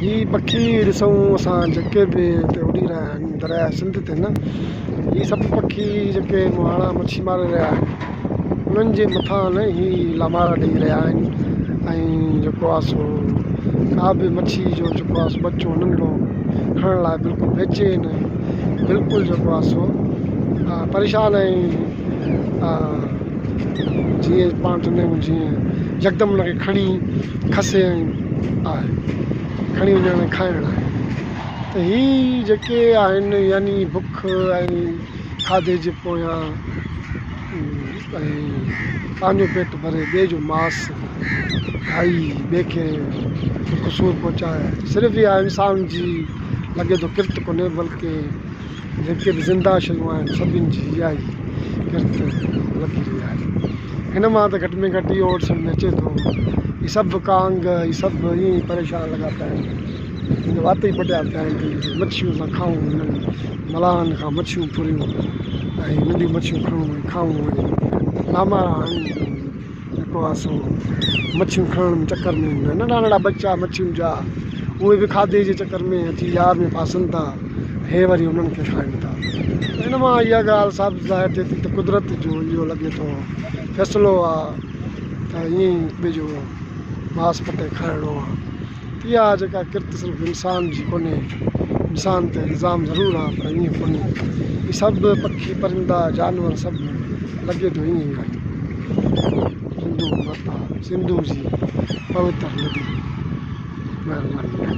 هي پکي ڏسون اسان جيڪي به هتي اڏي رهيا آهن درياهه سنڌ تي نه هي سڀ پکي جيڪي مهاڻا مڇي ماري رهيا آهن انهن جي مٿان نه هي لامارا ڏئي رهيا آهن ۽ جيڪو آهي سو ڪا به مڇي جو جيڪو آهي سو ٻچو انهن کان کڻڻ لاء بلڪل بيچين ۽ بلڪل جيڪو آهي سو پريشان ۽ جيئن پاڻ چوندا آهيون جيئن يڪدم ان کي کڻي کسي ۽ آهي کڻي وڃڻ ۽ کائڻ آهي ته هي جيڪي آهن يعني بک ۽ کاڌي جي پويان ۽ پنهنجو پيٽ ڀري ٻئي جو ماس کائي ٻئي کي بک سور پهچائي صرف اها انسان جي لڳي ٿو ڪرت ڪونهي بلڪه جيڪي به زنده شيون آهن سڀني جي اهائي ڪرت لڳي رهي آهي هن مان ته گهٽ ۾ گهٽ اهو اورڊ سمجهه ۾ اچي ٿو هي سڀ ڪانگ هي سڀ ائين ئي پريشان لڳا پيا آهن هن جا وات ئي پٽيا پيا آهن ته جي مڇيون اسان کائون هنن ملاحن کان مڇيون ڦريون ۽ ننڍيون مڇيون کڻون ۽ کائون ۽ نامارا هڻون جيڪو آهي سو مڇيون کڻڻ جي چڪر ۾ هوندا آهن ننڍا ننڍا ٻچا مڇين جا اهي به کاڌي جي چڪر ۾ اچي يار ۾ ڦاسن ٿا هي وري انهن کي کائن ٿا ان مان اها ڳالهه ثابت ظاهر ٿئي ٿي ته قدرت جو اهو لڳي ٿو فيصلو آهي ته ائين ٻئي جو ماس پٽي کائڻو آهي اها جيڪا ڪرت صرف انسان جي ڪونهي، انسان تي الزام ضرور آهي پر ائين ڪونهي. هي سڀ پکي، پرندا، جانور سڀ لڳي ٿو ائين ئي آهن. سنڌو ماتا سنڌو جي پوتر ندي مهرباني آهي.